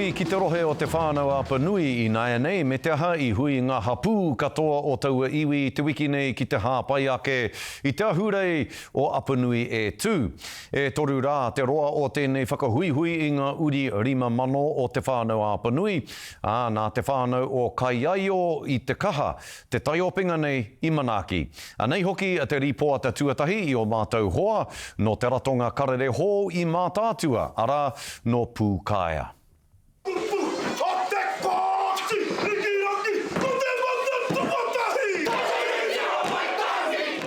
Hui ki te rohe o Te Whānau-a-Apanui ināianei, me te aha, i hui ngā hapū katoa o taua iwi te wiki nei ki te hāpai ake i te ahurei o Apanui e tū. E toru rā te roa o tēnei whakahuihui i ngā uri 5000 o Te Whānau-a-Apanui, ā, nā te whānau o Kaiaio i Te Kaha te taiopenga nei i manaaki. Anei hoki te rīpoata tuatahi i ō mātou hoa nō te ratonga karere hou i Mātaatua, arā, nō Pūkaea. Kupu a te Kooti Rikiraki ko te mata tuatahi.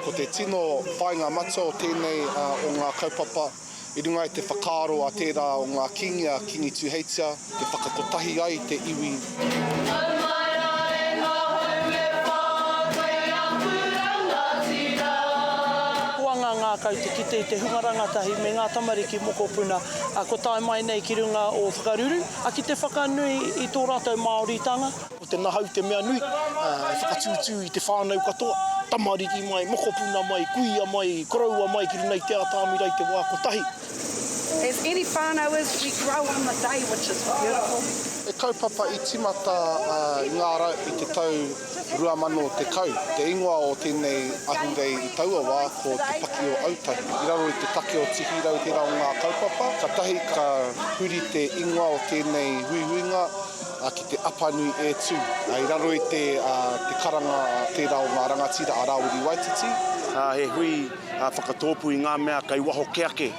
Ko te tino whāinga matua o tēnei o ngā kaupapa. I runga i te whakaaro a tērā o ngā kīngi a Kīngi Tūheitia te whakakotahi ai te iwi. Puanga ngākau te kite i te hunga rangatahi me ngā tamariki mokopuna kua tae mai nei ki runga o Whakaruru ki te whakanui i tō rātou Māoritanga. Ko te nahau te mea nui, e whakatūtū i te whānau katoa, tamariki mai, mokopuna mai, kuia mai, koroua mai ki runga i te atāmira i te wā kotahi. As any whānau is, we grow on the day, which is beautiful. He kaupapa i tīmata i ngā rau i te tau 2010. Te ingoa o tēnei ahurei i taua wā ko Te Paki o Autahi. I raro i te take o Tihirau tērā o ngā kaupapa. Katahi ka huri te ingoa o tēnei huihuinga, a ki te Apanui e tu. I raro i te karanga tērā o ngā rangatira a Rāwiri Waititi. He hui whakatōpū i ngā mea kei waho ke ake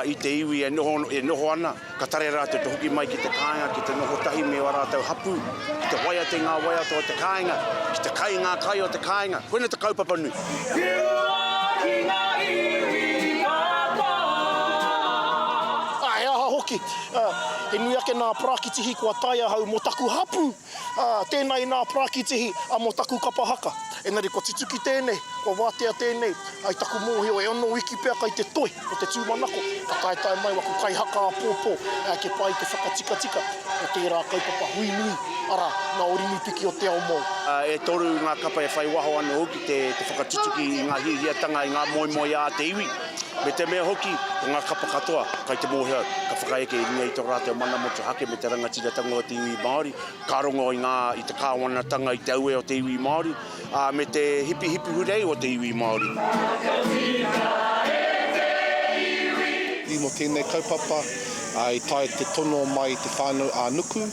i te iwi e noho ana, ka tare rātou te hoki mai ki te kāinga ki te noho tahi me ō rātou hapū, ki te waiate ngā waiata o te kāinga, ki te kai ngā kai o te kāinga. Koinei te kaupapa nui. Whiua ki ngā iwi katoa. Ā, he aha hoki Ā, he nui ake nā Parakitihi kua tae ahau mō taku hapū. Ā, tēnā i nā Parakitihi, ā, mō taku kapa haka. Engari kua tutuki tēnei, kua wātea tēnei, ā, i taku mōhio e ono wiki pea kai te toi o te tūmanako ka taetae mai waku kaihaka āpōpō, ā, kia pai te whakatikatika o tērā kaupapa hui nui, arā, ngā orinui piki o te ao mōu. Ā, e toru ngā kapa e whai waho anō hoki te whakatutuki i ngā hiahiatanga, i ngā moemoeā a te iwi. me te mea hoki, ko ngā kapa katoa kai te mōhio ka whakaeke i runga i tō rātou mana motu hake me te rangatiratanga o te iwi Māori, ka rongo i ngā, i te kāwanatanga, i te auē o te iwi Māori, ā, me te hipihipi hurei o te iwi Māori. I mō tēnei kaupapa, i tae te tono mai i te whānau ā-nuku.